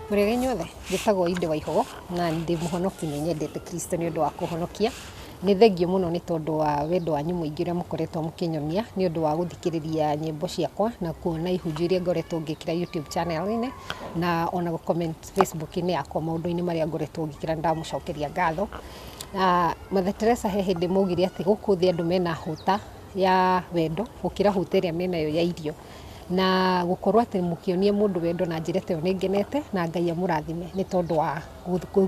mũregenyi othe njĩtagwo inde wa ihogo na ndĩ mũhonoki nĩ nyendete kristo nĩ ũndũ wa kũhonokia nĩ thengio mũno nĩ tondũ wa wendo wanyu mũingĩ ũrĩa mũkoretwo mũkĩnyonia nĩ ũndũ wa gũthikĩrĩria nyĩmbo ciakwa na kuona ihunjio iria ngoretwo ngĩkĩra youtube channel-inĩ na ona gũ comment Facebook-inĩ yakwa maũndũ-inĩ marĩa ngoretwo ngĩkĩra nĩ ndamũcokeria ngatho. Na Mother Teresa he hĩndĩ maugire atĩ gũkũ thĩ andũ mena hũta ya wendo gũkĩra hũta ĩrĩa menayo ya irio. Na gũkorwo atĩ mũkĩonia mũndũ wendo na njĩra ta ĩyo nĩ ngenete na Ngai amũrathime nĩ tondũ wa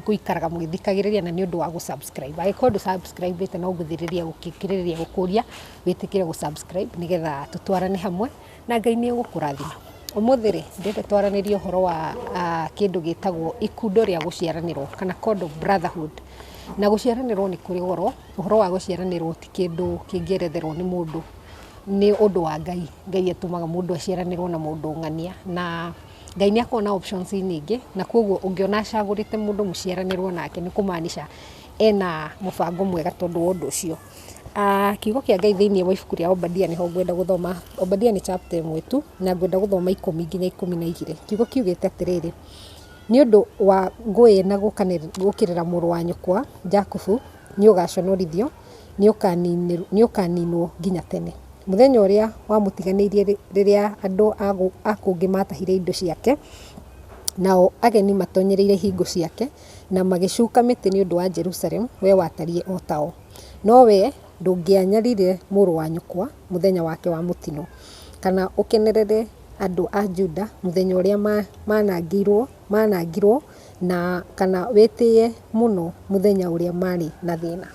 gũikaraga mũgĩthikagĩrĩria na nĩ ũndũ wa gũ subscribe. Angĩkorwo ndũ subscribe ĩte no ngũthirĩria gũkĩrĩrĩria gũkũria wĩtĩkĩre gũ subscribe nĩgetha tũtwarane hamwe. Na Ngai nĩ egũkũrathima. Ũmũthĩ rĩ, ndĩrenda twaranĩrie ũhoro wa kĩndũ gĩtagwo ikundo rĩa gũciaranĩrwo kana condom brotherhood. Na gũciaranĩrwo nĩ kũrĩ goro, ũhoro wa gũciaranĩrwo ti kĩndũ kĩngĩeretherwo nĩ mũndũ, nĩ ũndũ wa Ngai. Ngai atũmaga mũndũ aciaranĩrwo na mũndũ ng'ania. Na Ngai nĩ akoragwo na options nyingĩ, na kwoguo ũngĩona acagũrĩte mũndũ mũciaranĩrwo nake nĩ kũmaanisha ena mũbango mwega tondũ wa ũndũ ũcio. Kiugo kĩa Ngai thĩinĩ wa ibuku rĩa Obadia nĩho ngwenda gũthoma. Obadia nĩ chapter ĩmwe tu, na ngwenda gũthoma ikũmi nginya ikũmi na igĩrĩ. Kiugo kiugĩte atĩrĩrĩ, "Nĩ ũndũ wa ngũĩ na gũũkĩrĩra mũrũ wa nyũkwa Jakubu, nĩ ũgaaconorithio, nĩ ũkaaniinwo nginya tene. Mũthenya ũrĩa wamũtiganĩirie rĩrĩa andũ a kũngĩ maatahire indo ciake, nao ageni matoonyereire ihingo ciake, na magĩcuka mĩtĩ nĩ ũndũ wa Jerusalemu, wee watariĩ o tao. No wee ndũngĩanyarire mũrũ wa nyũkwa mũthenya wake wa mũtino, kana ũkenerere andũ a Juda mũthenya ũrĩa manangĩirwo, manangirwo, na kana wĩtĩĩe mũno mũthenya ũrĩa marĩ na thĩna.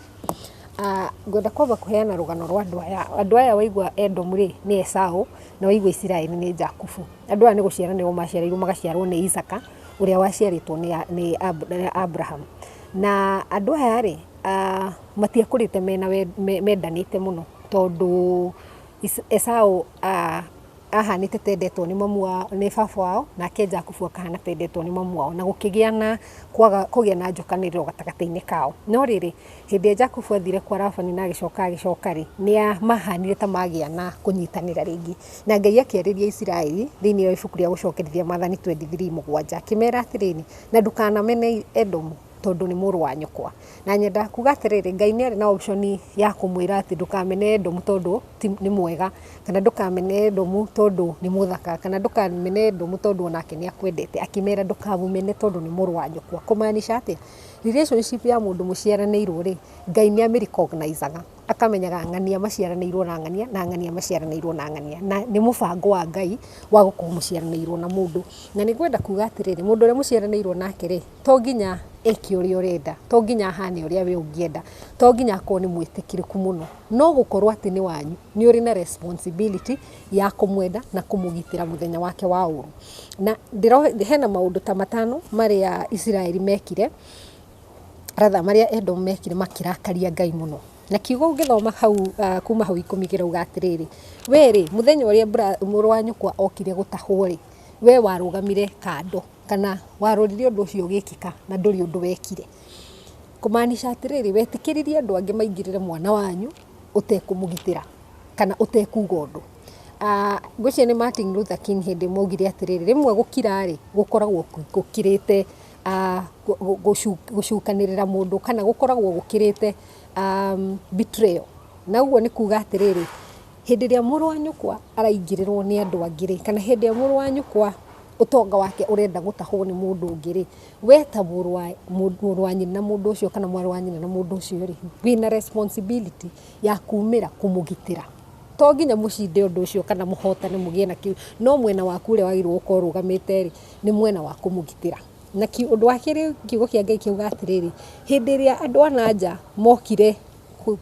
Ngwenda kwamba kũheana rũgano rwa andũ aya. Andũ aya waigua Edomu rĩ, nĩ Esau, na waigua Isiraeli nĩ Jakubu. Andũ aya nĩ gũciara nĩo maciarirwo magaciarwo nĩ Isaaka. ũrĩa waciarĩtwo nĩ Abraham. Na andũ aya rĩ, matiakũrĩte mendanĩte mũno tondũ Esau ahanĩte ta endetwo nĩ baba wao, nake Jakubu akahana ta endetwo nĩ mamu wao, na gũkĩgĩa na kwaga kũgĩa na njũkanĩrĩro gatagatĩ-inĩ kao. No rĩrĩ... Hĩndĩ ĩrĩa Jakubu aathire kwa Labani na agĩcoka agĩcoka-rĩ, nĩ maahaanire ta maagĩa na kũnyitanĩra rĩngĩ. Na Ngai akĩarĩria Isiraeli thĩinĩ wa ibuku rĩa Gũcokerithia Maathani 23:7, akĩmeera atĩrĩrĩ, Na ndũkanamene Edomu, tondũ nĩ mũrũ wa nyũkwa. Na nyendaga kuuga atĩrĩrĩ, Ngai nĩ arĩ na option ya kũmwĩra atĩ ndũkamene Edomu tondũ ti, nĩ mwega, kana ndũkamene Edomu tondũ nĩ mũthaka, kana ndũkamene Edomu tondũ o nake nĩ akwendete. Akĩmeera ndũkamũmene tondũ nĩ mũrũ wa nyũkwa. Kũmaanisha atĩa? Relationship ya mũndũ mũciaranĩirwo rĩ, Ngai nĩ amĩ recognize aga, akamenyaga ng'ania maciaranĩirwo na ng'ania, na ng'ania maciaranĩirwo na ng'ania, na nĩ mũbango wa Ngai wa gũkorwo mũciaranĩirwo na mũndũ. Na nĩ ngwenda kuuga atĩrĩrĩ, mũndũ ũrĩa mũciaranĩirwo nake rĩ, to nginya eke ũrĩa ũrenda, to nginya ahane ũrĩa we ũngĩenda, to nginya akorwo nĩ mwĩtĩkĩrĩku mũno, no gũkorwo atĩ nĩ wanyu. nĩ ũrĩ na responsibility ya kũmwenda na kũmũgitĩra mũthenya wake wa ũũru. Na hena maũndũ ta matano marĩa Isiraeli mekire, rather marĩa Edomu mekire makĩrakaria Ngai mũno. Na kiugo ũngĩthoma hau kuma hau ikũmi kĩrauga atĩrĩrĩ, we rĩ, mũthenya ũrĩa mũrũ wa nyũkwa okire gũtahwo rĩ, we warũgamire kando, kana warorire ũndũ ũcio ũgĩkĩka na ndũrĩ ũndũ wekire. Kũmaanisha atĩrĩrĩ, wetĩkĩririe andũ angĩ maingĩrĩre mwana wanyu. ũtekũmũgitĩra kana ũtekuga ũndũ. Ngwĩciria nĩ Martin Luther King hĩndĩ ĩmwe augire atĩrĩrĩ, rĩmwe gũkira rĩ, gũkoragwo gũkĩrĩte gũcukanĩrĩra mũndũ kana gũkoragwo gũkĩrĩte betrayal. Na ũguo nĩ kuga atĩrĩrĩ, hĩndĩ ĩrĩa mũrũ wa nyũkwa araingĩrĩrwo nĩ andũ angĩ rĩ, kana hĩndĩ ĩrĩa mũrũ wa nyũkwa ũtonga wake ũrenda gũtahwo nĩ mũndũ ũngĩ rĩ, We ta mũrũ wa mũndũ- mũrũ wa nyina na mũndũ ũcio kana mwarĩ wa nyina na mũndũ ũcio rĩ, wĩna responsibility ya kumĩra kũmũgitĩra. To nginya mũcinde ũndũ ũcio kana mũhotane mũgĩe na kĩu, no mwena waku ũrĩa wagĩrĩirwo gũkorwo ũrũgamĩte rĩ, nĩ mwena wa kũmũgitĩra. Na ki ũndũ wa kerĩ kiugo kĩa Ngai kiuga atĩrĩrĩ, hĩndĩ ĩrĩa andũ a na nja mokire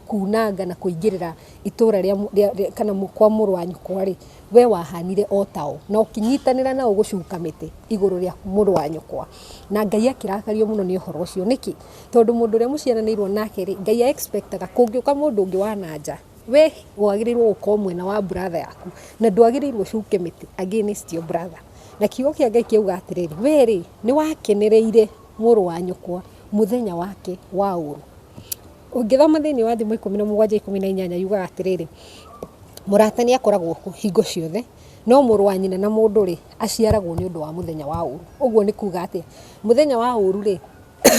kuunanga na kũingĩrĩra itũũra rĩa rĩa kana kwa mũrũ wa nyũkwa-rĩ, we wahanire o tao, na ũkĩnyitanĩra nao gũcuka mĩtĩ igũrũ rĩa mũrũ wa nyũkwa. Na Ngai akĩrakario mũno nĩ ũhoro ũcio. Nĩkĩ? Tondũ mũndũ ũrĩa mũciaranĩirwo nake-rĩ, Ngai a expect aga kũngĩũka mũndũ ũngĩ wa na nja, we wagĩrĩirwo gũkorwo mwena wa brother yaku, na ndwagĩrĩirwo ũcuke mĩtĩ against your brother. Na kiugo kĩa Ngai kĩauga atĩrĩrĩ, we-rĩ, nĩwakenereire. mũrũ wa nyũkwa mũthenya wake wa ũrũ. Ũngĩthoma thĩinĩ wa thimo ikũmi na mũgwanja ikũmi na inyanya yugaga atĩrĩrĩ, mũrata nĩ akoragwo kuo hingo ciothe, no mũrũ wa nyina na mũndũ rĩ, aciaragwo nĩ ũndũ wa mũthenya wa ũrũ. Ũguo nĩ kuuga atĩ, mũthenya wa ũrũ rĩ,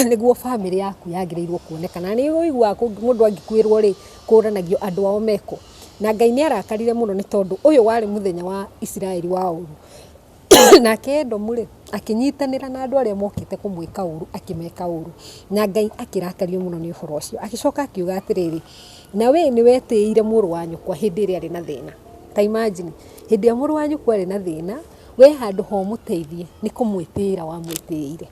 nĩguo bamĩrĩ yaku yagĩrĩirwo kuoneka. Na nĩ ũiguaga mũndũ angĩkuĩrwo rĩ, kũũranagio andũ ao mekũ. Na Ngai nĩ arakarire mũno nĩ tondũ ũyũ warĩ mũthenya wa Isiraeli wa ũrũ. Nake Edomu rĩ, akĩnyitanĩra na andũ arĩa mokĩte kũmwĩka ũũru, akĩmeka ũũru. Na Ngai akĩrakario mũno nĩ ũhoro ũcio. Agĩcoka akiuga atĩrĩrĩ, Na wee nĩ wetĩĩire mũrũ wa nyũkwa hĩndĩ ĩrĩa arĩ na thĩna. Ta imagine, hĩndĩ ĩrĩa mũrũ wa nyũkwa arĩ na thĩna, wee handũ ha ũmũteithie, nĩ kũmwĩtĩĩra wamwĩtĩĩire.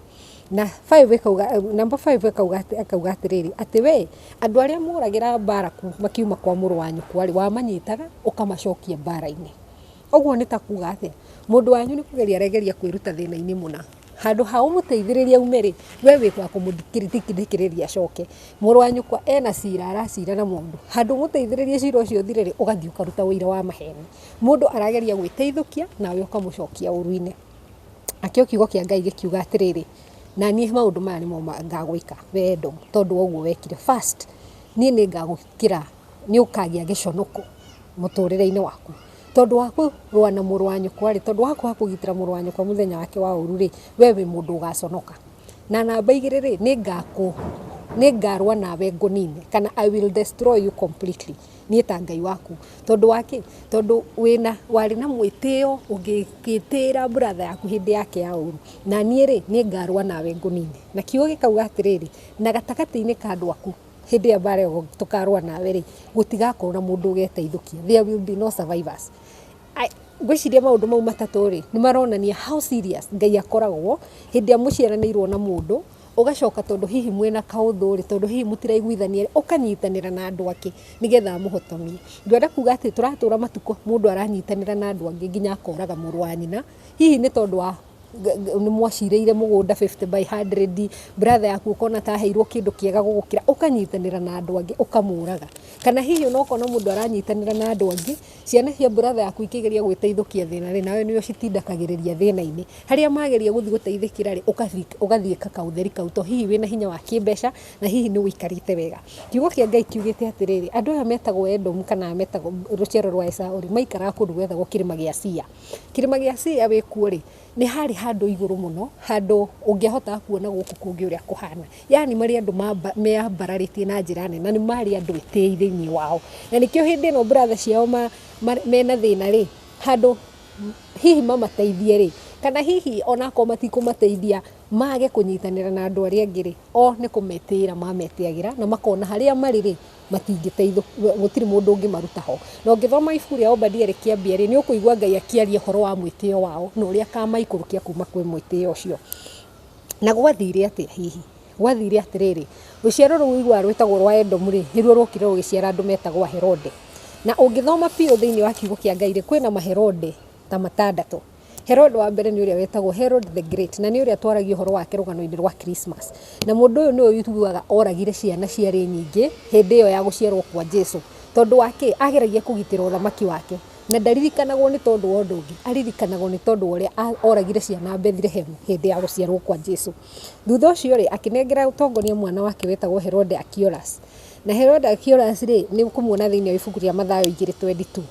Na five ĩkauga, number five ĩkauga atĩ, ĩkauga atĩrĩrĩ, atĩ wee, andũ arĩa moragĩra Baraku makiuma kwa mũrũ wa nyũkwa rĩ, wamanyitaga, ũkamacokia mbaara-inĩ. Ũguo nĩ ta kuuga atĩa? Mũndũ wanyu nĩ kũgeria aregeria kwĩruta thĩna-inĩ mũna. Handũ ha ũmũteithĩrĩrie aume rĩ, we wĩ wa kũmũthikĩrĩria acoke. Mũrũ wa nyũkwa ena cira aracira na mũndũ, handũ ha ũmũteithĩrĩrie cira ũcio ũthire rĩ, ũgathiĩ ũkaruta ũira wa maheeni. Mũndũ arageria gwĩteithũkia nawe ũkamũcokia ũũru-inĩ. Nakĩo Kiugo kĩa Ngai gĩkiuga atĩrĩrĩ, Na niĩ maũndũ maya nĩmo ngagwĩka, wee Edomu, tondũ wa ũguo wekire. First, niĩ nĩ ngagũkĩra nĩ ũkagĩa gĩconoko mũtũrĩre-inĩ waku. Tondũ wa kũrũa na mũrũ wa nyũkwa rĩ, tondũ wa kwaga kũgitĩra mũrũ wa nyũkwa mũthenya wake wa ũru rĩ, we wĩ mũndũ ũgaconoka. Na namba igĩrĩ rĩ, nĩ ngarũa nawe ngũnine, kana I will destroy you completely, niĩ ta Ngai waku. Tondũ wa kĩ? Tondũ wĩna, warĩ na mwĩtĩo, ũgĩgĩtĩĩra brother yaku hĩndĩ yake ya ũru. Na niĩ rĩ, nĩ ngarũa nawe ngũnine. Na kiugo gĩkauga atĩrĩrĩ, na gatagatĩ-inĩ ka andũ aku. hĩndĩ ĩyo mbara ĩyo tũkarũa nawe rĩ, gũtigakorwo na mũndũ ũgeteithũkia, there will be no survivors. Ngwĩciria maũndũ mau matatũ rĩ, nĩ maronania how serious Ngai akoragwo hĩndĩ ĩrĩa mũciaranĩirwo na mũndũ, ũgacoka tondũ hihi mwĩna kaũndũ rĩ, tondũ hihi mũtiraiguithania rĩ, ũkanyitanĩra na andũ angĩ nĩ getha amũhotomie. Ndĩrenda kuga atĩ tũratũra matukũ mũndũ aranyitanĩra na andũ angĩ nginya akoraga mũrũ wa nyina, hihi nĩ tondũ wa... nĩ mwacirĩire mũgũnda fifty by hundred, brother yaku ũkona ta aheirwo kĩndũ kĩega gũgũkĩra, ũkanyitanĩra na andũ angĩ ũkamũraga. Kana hihi ona ũkona mũndũ aranyitanĩra na andũ angĩ, ciana cia brother yaku ikĩgeria gwĩteithũkia thĩna rĩ, nawe nĩ ũcitindĩkagĩrĩria thĩna-inĩ. Harĩa mageria gũthiĩ gũteithĩkĩra rĩ, ũgathiĩ ĩka kaũtheri kau to hihi wĩna hinya wa kĩmbeca na hihi nĩ ũikarĩte wega. Kiugo kĩa Ngai kiugĩte atĩrĩrĩ, andũ aya metagwo Edomu kana aya metagwo rũciaro rwa Esaũ rĩ, maikaraga kũndũ gwetagwo kĩrĩma gĩa Sia. Kĩrĩma gĩa Sia wĩkuo rĩ, nĩ harĩ handũ igũrũ mũno, handũ ũngĩahota kuona gũkũ kũngĩ ũrĩa kũhana. Yaani marĩ andũ meyambararĩtie na njĩra nene, na nĩ marĩ andũ etĩi thĩiniĩ wao. Na nĩkĩo hĩndĩ ĩno brother ciao mena thĩna rĩ, handũ hihi mamateithie rĩ, kana hihi ona akorwo matikũmateithia, mage kũnyitanĩra na andũ arĩa angĩ rĩ, o nĩ kũmetĩĩra mametĩagĩra na makona harĩa marĩ rĩ, matingĩteithũ, gũtirĩ mũndũ ũngĩmaruta ho. Na ũngĩthoma ibuku rĩa Obadia rĩ kĩambia rĩ, nĩ ũkũigua Ngai akĩaria ũhoro wa mwĩtĩo wao, na ũrĩa akamaikũrũkia kuuma kwĩ mwĩtĩo ũcio. Na gwathire atĩa hihi? Gwathire atĩrĩrĩ, rũciaro rũu ũiguaga rwĩtagwo rwa Edomu rĩ, nĩ ruo ruokire rũgĩciara andũ metagwo Aherode. Na ũngĩthoma biũ thĩiniĩ wa kiugo kĩa Ngai rĩ, kwĩna Maherode ta matandatũ. Herode wa mbere nĩ ũrĩa wetagwo Herode the Great, na nĩ ũrĩa twaragio ũhoro wake rũgano-inĩ rwa Christmas. Na mũndũ ũyũ nĩwe ũiguaga oragire ciana ciarĩ nyingĩ hĩndĩ ĩyo ya gũciarwo kwa Jesu. Tondũ wa kĩ? Ageragia kũgitĩra ũthamaki wake. Na ndaririkanagwo nĩ tondũ wa ũndũ ũngĩ, aririkanagwo nĩ tondũ wa ũrĩa oragire ciana Bethlehem hĩndĩ ya gũciarwo kwa Jesu. Thutha ũcio rĩ, akĩnengera ũtongoria mwana wake wetagwo Herode Archelaus. Na Herode Archelaus rĩ, nĩ ũkũmuona thĩinĩ wa ibuku rĩa Mathayo igĩrĩ twenty two.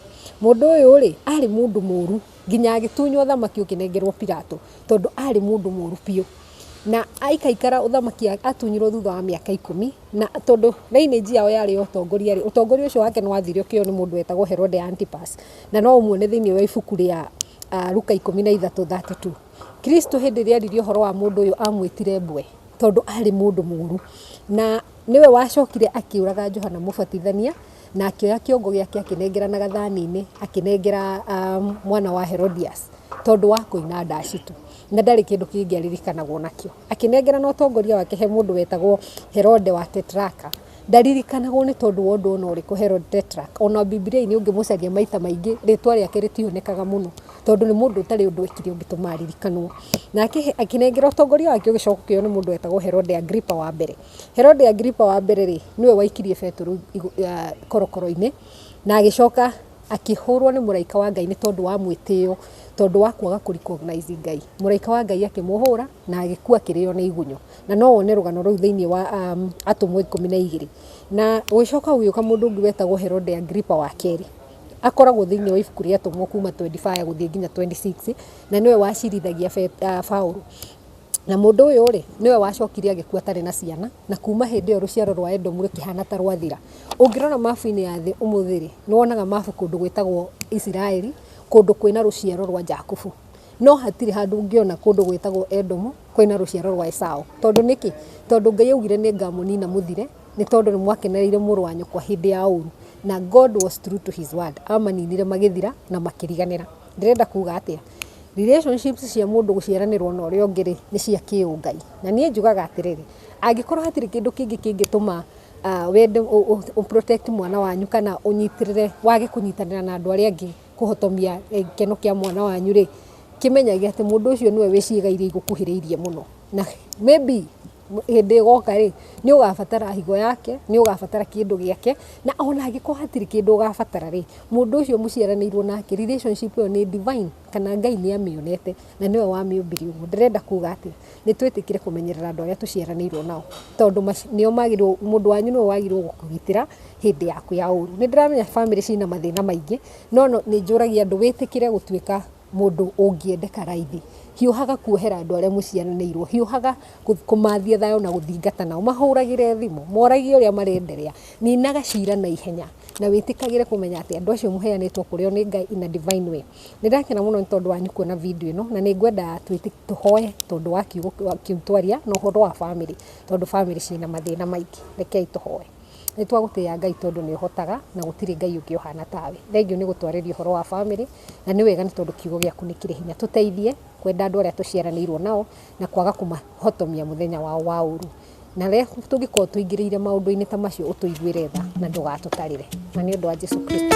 Mũndũ ũyũ rĩ, arĩ mũndũ mũru. Nginya agĩtunywo ũthamaki ũkĩnengerwo Pilato, tondũ aarĩ mũndũ mũũru biũ. Na aikaikara ũthamaki atunyirwo thutha wa mĩaka ikũmi, na tondũ reinĩnji yao yarĩ ya ũtongoria-rĩ, ũtongoria ũcio wake nĩ wathiũrũrũkĩirio nĩ mũndũ wetagwo Herode Antipas, na no ũmuone thĩinĩ wa ibuku rĩa Luka ikũmi na ithatũ thate tu. Kristo hĩndĩ ĩrĩa eeririo ũhoro wa mũndũ ũyũ aamwĩtire mbwe, tondũ aarĩ mũndũ mũũru. Na nĩwe wacokire akĩũraga Johana Mũbatithania. na akĩoya kĩongo gĩake akĩnengera na gathani-inĩ akĩnengera mwana wa Herodias tondũ wa kũina ndaci tu, na ndarĩ kĩndũ kĩngĩ aririkanagwo nakĩo. Akĩnengera na ũtongoria wake he mũndũ wetagwo Herode wa Tetraka, ndaririkanagwo nĩ tondũ wa ũndũ ona ũrĩkũ Herode Tetraka, ona Bibilia-inĩ ũngĩmũcaria maita maingĩ rĩtwa rĩake rĩtionekaga mũno tondũ nĩ mũndũ ũtarĩ ũndũ ekire ũngĩtũma aririkanwo. Nake akĩnengera ũtongoria wake ũgĩcoka ũkĩoywo nĩ mũndũ wetagwo Herode Agrippa wa mbere. Herode Agiripa wa mbere-rĩ, nĩwe waikirie Petero korokoro-inĩ, na agĩcoka akĩhũrwo nĩ mũraika wa Ngai nĩ tondũ wa mwĩtĩo, tondũ wa kwaga kũ recognize Ngai. Mũraika wa Ngai akĩmũhũra na agĩkua akĩrĩo nĩ igunyũ. Na no wone rũgano rũu thĩiniĩ wa Atũmwo ikũmi na igĩrĩ. Na gũgĩcoka gũgĩũka mũndũ ũngĩ wetagwo Herode Agiripa wa kerĩ. Akoragwo thĩiniĩ wa ibuku rĩa Atũmwo kuuma twenty five gũthiĩ nginya twenty six, na nĩwe wacirithagia Paũlũ. Na mũndũ ũyũ-rĩ, nĩwe wacokire agĩkua atarĩ na ciana, na kuuma hĩndĩ ĩyo rũciaro rwa Edomu rũkĩhaana ta rwathira. Ũngĩrora mabu-inĩ ya thĩ ũmũthĩ-rĩ, nĩ wonaga mabu kũndũ gwĩtagwo Isiraeli, kũndũ kwĩna rũciaro rwa Jakubu. No hatirĩ handũ ũngĩona kũndũ gwĩtagwo Edomu kwĩna rũciaro rwa Esau. Tondũ nĩkĩ? Tondũ Ngai augire nĩ ngamũnina mũthire, nĩ tondũ nĩ mwakenereire mũrũ wa nyũkwa hĩndĩ ya ũru. Na God was true to his word. Amaninire magĩthira na makĩriganĩra. Ndĩrenda kuuga atĩa? Relationships cia mũndũ gũciaranĩrwo na ũrĩa ũngĩ rĩ, nĩ cia kĩũngai. Na niĩ njugaga atĩrĩrĩ, angĩkorwo hatirĩ kĩndũ kĩngĩ kĩngĩtũma wende ũ protect mwana wanyu kana ũnyitĩrĩre wage kũnyitanĩra na andũ arĩa angĩ kũhotomia gĩkeno kĩa mwana wanyu rĩ, kĩmenyage atĩ mũndũ ũcio nĩwe wĩ ciĩga iria igũkuhĩrĩirie mũno. Na maybe hĩndĩ ĩgoka rĩ, nĩ ũgabatara higo yake, nĩ ũgabatara kĩndũ gĩake, na ona angĩkorwo hatirĩ kĩndũ ũgabatara rĩ, mũndũ ũcio mũciaranĩirwo nake, relationship ĩyo nĩ divine, kana Ngai nĩ amĩonete, na nĩwe wamĩũmbire ũguo. Ndĩrenda kuuga atĩa? Nĩ twĩtĩkĩre kũmenyerera andũ arĩa tũciaranĩirwo nao, tondũ nĩo magĩrĩirwo, mũndũ wanyu nĩwe wagĩrĩirwo gũkũgitĩra hĩndĩ yaku ya ũũru. Nĩ ndĩramenya bamĩrĩ ciĩna mathĩna maingĩ, no nĩ njũragia andũ, wĩtĩkĩre gũtuĩka mũndũ ũngĩendeka raithi, hiũhaga kuohera andũ arĩa mũciaranĩirwo, hiũhaga kũmathia thayũ na gũthingata nao, mahũragĩre thimũ, moragie ũrĩa marenderea, ninaga cira na ihenya na wĩtĩkagĩre kũmenya atĩ andũ acio mũheanĩtwo kũrĩ o nĩ Ngai in a divine way. Nĩ ndakena mũno nĩ tondũ wanyu kuona video ĩno, na nĩ ngwenda tũhoe tondũ wa kiugo kĩu twaria na ũhoro wa bamĩrĩ, tondũ bamĩrĩ ciĩna mathĩna maingĩ. Rekei tũhoe. Nĩ twagũtĩĩa Ngai tondũ nĩ ũhotaga na gũtirĩ Ngai ũngĩ ũhana tawe. Thengiũ nĩ gũtwarĩria ũhoro wa famĩlĩ na nĩ wega nĩ tondũ kiugo gĩaku nĩ kĩrĩ hinya. Tũteithie kwenda andũ arĩa tũciaranĩirwo nao na kwaga kũmahotomia mũthenya wao wa ũũru. Na rĩrĩa tũngĩkorwo tũingĩrĩire maũndũ-inĩ ta macio ũtũiguĩre tha na ndũgatũtarĩre. Na nĩ ũndũ wa Jesu Kristo.